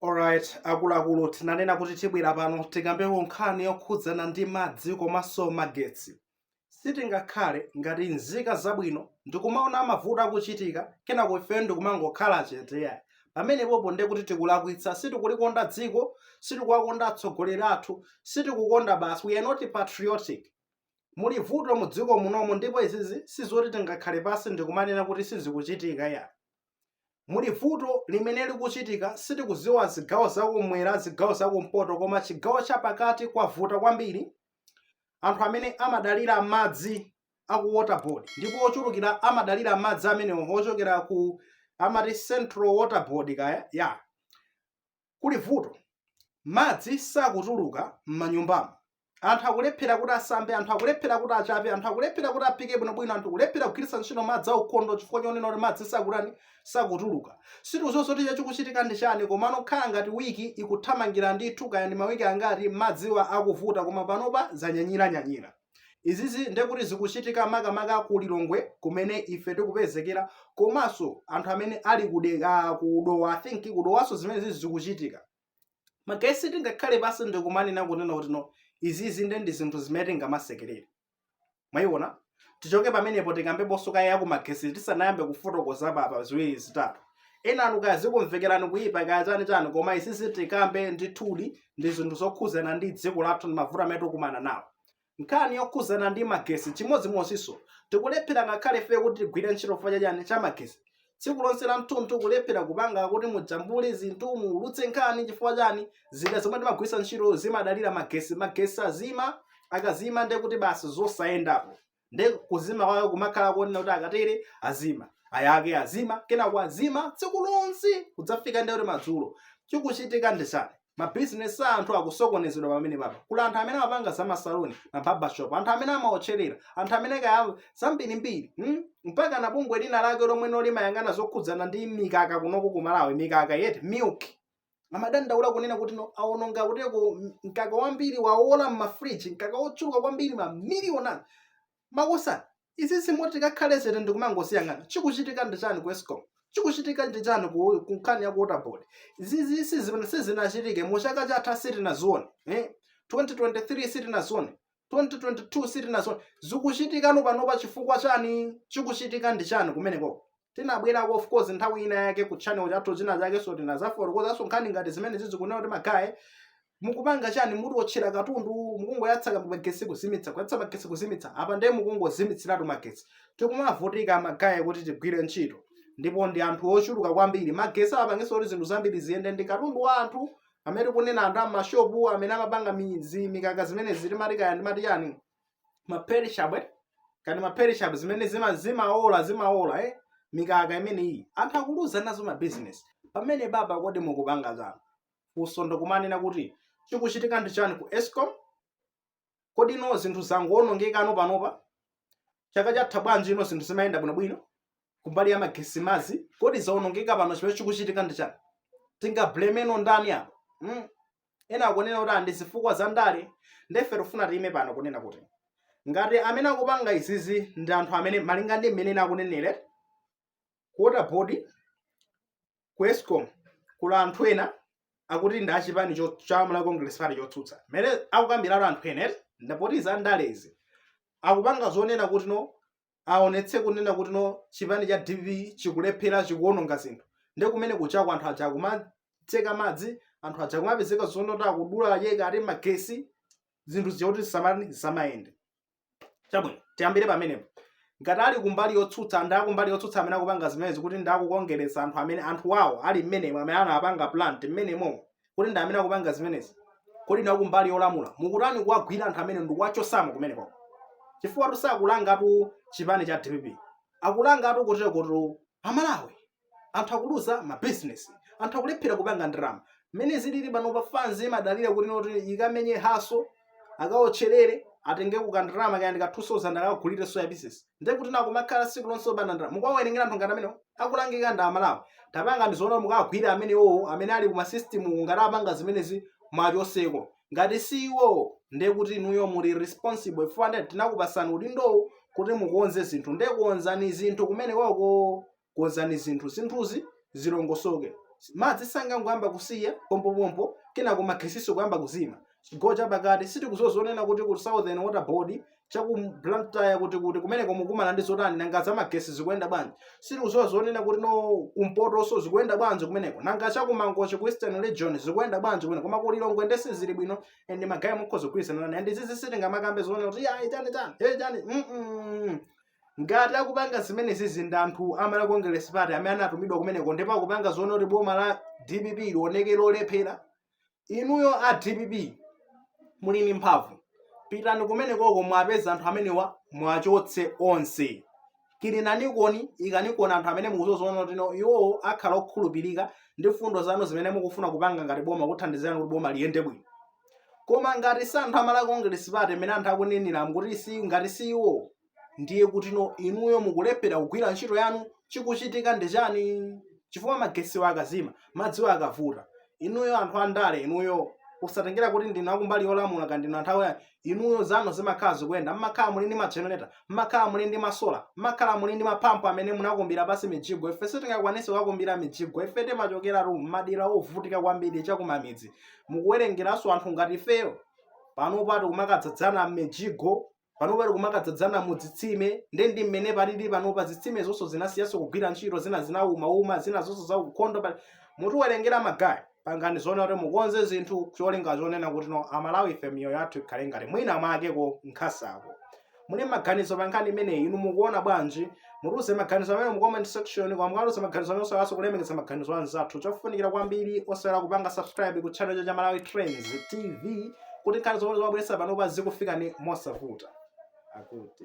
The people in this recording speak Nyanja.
Alright, akuluakulu tinanena kuti tibwera pano tikambeko nkhani yokhudzana ndi madzi komanso magetsi. Sitingakhale ngati nzika zabwino ndikumaona mavuto akuchitika kenako ifeyo ndikumangokhala chete yayi. Pamenepopo ndiye kuti tikulakwitsa, sitikulikonda dziko, sitikuwakonda atsogoleri athu, sitikukonda basi, we are not patriotic. Muli vuto mu dziko munomu ndipo izizi sizoti tingakhale pansi ndikumanena kuti sizikuchitika yayi. muli vuto limene likuchitika sitikuziwa zigawo zakumwera zigawo zakumpoto koma chigawo chapakati kwavuta kwambiri anthu amene amadalira madzi aku waterboard ndipo ochulukira amadalira madzi amenewo ochokera ku amati central waterboard kaya ya Kuli vuto. Madzi sakutuluka m'manyumbamu. Anthu akulephera kuti asambe, anthu akulephera kuti achape, anthu akulephera kuti aphike bwinobwino, anthu kulephera kugwiritsa ntchito madzi aukhondo chifukwa chonena kuti madzi sakutani, sakutuluka. Sitikudziwa zoti icho chikuchitika ndi chani, komano kukhala ngati wiki ikuthamangira ndithu, kaya ndi mawiki angati, madziwa akuvuta, koma panopa zanyanyiranyanyira. izizi ndiye kuti zikuchitika makamaka ku lilongwe kumene ife tikupezekera komanso anthu amene ali kude- ah, ku dowa i think kudowanso zimene zizi zikuchitika ndiye sitingakhale pasi ndikumanena kunena kuti no izizi nde ndi zinthu zimene tingamasekerere mwayiona tichoke pamenepo tikambeponso kaye ya kumagesi tisanayambe kufotokoza apapa ziwiri zitatu enanu kaya zikumvekerani kuyipa kaya chani chani koma izizi tikambe ndithudi ndi zinthu zokhuzana ndi dziko lathu ndi mavuto amene tikumana nawo nkhani yokhuzana ndi magesi chimodzimodzinso tikulephera ngakhale ife kuti tigwire ntchito fa chachani cha magesi tsiku lonse lamtunthu kulephera kupanga kuti mujambule zinthu mutulutse nkhani chifukwa chani zida zomwe timagwiritsa ntchito zimadalira magesi magesi azima akazima ndiye kuti basi zosayendapo nde kuzima kwawo kumakhala konena kuti akatere azima ayake azima kenako azima tsiku lonse kudzafika ndekuti madzulo chikuchitika ndi chani mabizinesi a anthu akusokonezedwa pamenepapa kuli anthu amene amapanga za masaloni mabarbershop anthu amene amaotcherera anthu amene kaya zambirimbiri hmm? mpaka na bungwe lina lake lomweno limayang'ana zokhudzana ndi mikaka kunoko ku malawi mikaka eti milk amadandaula kunena kuti no awononga kuteko m- mkaka wambiri wawola m'mafriji mkaka wochuluka kwambiri mamiliyoni akuluakulu izi sizoti tingakhale chete ndikumangoziyang'ana chikuchitika ndi chani ku escom chikuchitika ndi chani ku ku nkhani ya ku waterboard izizi zimene sizinachitike mu chaka chatha sitinazione eh? 2023 sitinazione 2022 sitinazione zikuchitikano panopa chifukwa chani chikuchitika ndi chani kumeneko tinabwerako of course nthawi ina yake ku channel chathu china chake so tinazafotokozanso nkhani ngati zimene zizikunena kuti magaye mukupanga chani muti otchera katundu mukungoyatsa magesi kuzimitsa kuyatsa magesi kuzimitsa apa ndiye mukungozimitsiratu magesi tikumavutika magaye kuti tigwire ntchito ndipo ndi anthu ochuluka kwambiri magesi apangenso kuti zinthu zambiri ziyende ndi katundu wa anthu amene tikunena anthu amashopu amene amapanga mi- zi- mikaka zimene zili mati kaya ndi mati yani maperishable kani maperishable zimene zima zimaola zimaola eh mikaka imene iyi anthu akuluza nazo mabizinesi pamenepa apa kodi mukupanga chani funso ndikumanena kuti chikuchitika ndi chani ku escom kodi ino zinthu zangowonongekano panopa chaka chatha bwanji ino zinthu zimayenda bwinobwino kumbali ya magesi madzi kodi zawonongeka pano chimene chikuchitika ndi chani tingablemeno ndani apo mm. ena akunena kuti ndi zifukwa za ndale nde ife tifuna tiyime pano kunena kuti ngati amene akupanga izizi ndi anthu amene malinga ndi mmene akunenere ku water board ku escom kuli anthu ena akuti ndi achipani cho- cha malawi congress party chotsutsa mmene akukambiratu anthu ena eti ndapotiza ndalezi akupanga zonena kuti no aonetse kunena kuti no chipani cha dpp chikulephera chikuononga zinthu nde kumene kuchako anthu aja kumatseka madzi anthu aja kumapezeka zonoti akudula yeka ati magesi zinthu zija kuti zisamani zisamayende chabwino tiyambire pamenepo ngati ali kumbali yotsutsa ndi akumbali yotsutsa amene akupanga zimenezi kuti ndi akukongeretsa anthu amene anthu wawo ali mmenemo amene anapanga plant mmenemo kuti ndi amene akupanga zimenezi kodi inu akumbali yolamula mukutani kuwagwira anthu amene ndikuwachotsamo kumeneko chifukwa tu sakulanga chipani cha dpp akulangatu koteroko ndi amalawi anthu akuluza ma business anthu akulephera kupanga ndalama mmene zilili pano pa fans imadalira kuti no iti ikamenye hustle akaotcherere atenge kandalama kaya ndika 2000 akagulire soya pieces ndiye kuti akumakhala tsiku lonse opanda ndalama mukawawerengera anthu ngati amenewo akulangika ndi amalawi tapangani zoona mukawagwire amenewowo amene ali kuma system ngati apanga zimenezi muwachotseko ngati si iwowo ndiye kuti inuyo muli responsible chifukwa ndiye tinakupasani udindowo kuti mukonze zinthu ndiye konzani zinthu kumeneko konzani zinthu zinthuzi zilongosoke madzi sangangoyamba kusiya pompopompo kenako magesiso kuyamba kuzima chigawo chapakati sitikudziwa zonena kuti ku southern water board chaku blantyre kuti kumeneko mukumana ndi zotani nanga za magesi zikuyenda bwanji sitikudziwa zonena kuti no kumpotoso zikuyenda bwanji kumeneko nanga chakumangochi ku eastern region zikuyenda bwanji kumeneko koma kulilongwe nde sizili bwino and magaye mukhoza kugwirizana nane and zizi sitingamakambe zonena kuti ya itani tani hey tani mm -mm. Ngati akupanga zimenezizi ndi anthu a Malawi Congress Party amene anatumidwa kumeneko ndipo akupanga zoona kuti boma la dpp lioneke lolephera, inuyo a dpp muli ndi mphamvu, pitani kumenekoko muwapeze anthu amenewa muwachotse onse. Kilinanikoni, ikanikoni anthu amene mukudziwa zoona kuti iwowo akhala okhulupirika ndi mfundo zanu zimene mukufuna kupanga ngati boma kuthandiza kuti boma liyende bwino. koma ngati si anthu a Malawi Congress Party amene anthu akunenera kuti si ngati si iwo ndiye kutino inuyo mukulephera kugwira ntchito yanu chikuchitika ndi chani chifukwa magesiwo akazima madziwo akavuta inuyo anthu andale inuyo usatengera kuti ndinu akumbali yolamula ka ndinu anthu awoyani inuyo zanu zimakhala zikuyenda mmakhala muli ndi magenerator mmakhala muli ndi masola mmakhala muli ndi mapampu amene munakumbira pasi mijigo ife sitingakwanise kukumbira mijigo ife timachokera ku madera ovutika kwambiri chakumamidzi mutiwerengerenso anthu ngati ifeyo panopa tikumakadzadzana m'mijigo panopa tikumakadzadzana mu zitsime ndi ndi mmene palili panopa zitsime zonso zinasiyanso kugwira ntchito zina zinaumauma zina zonso zakukhondo pa- mutiwerengere magaye pangani zoona kuti mukonze zinthu cholinga chonena kuti no amalawi ife miyoyo yathu ikhale ngati mwina mwakeko nkhasako muli maganizo pa nkhani imeneyi inu mukuona bwanji mutiuze maganizo amene mu comment section koma mukatiuza maganizo amene osaiwalanso kulemekeza maganizo anzathu chofunikira kwambiri osaiwala kupanga subscribe ku channel cha Malawi Trends TV kuti nkhani zomwe timabweretsa panopa zikufikeni mosavuta akuti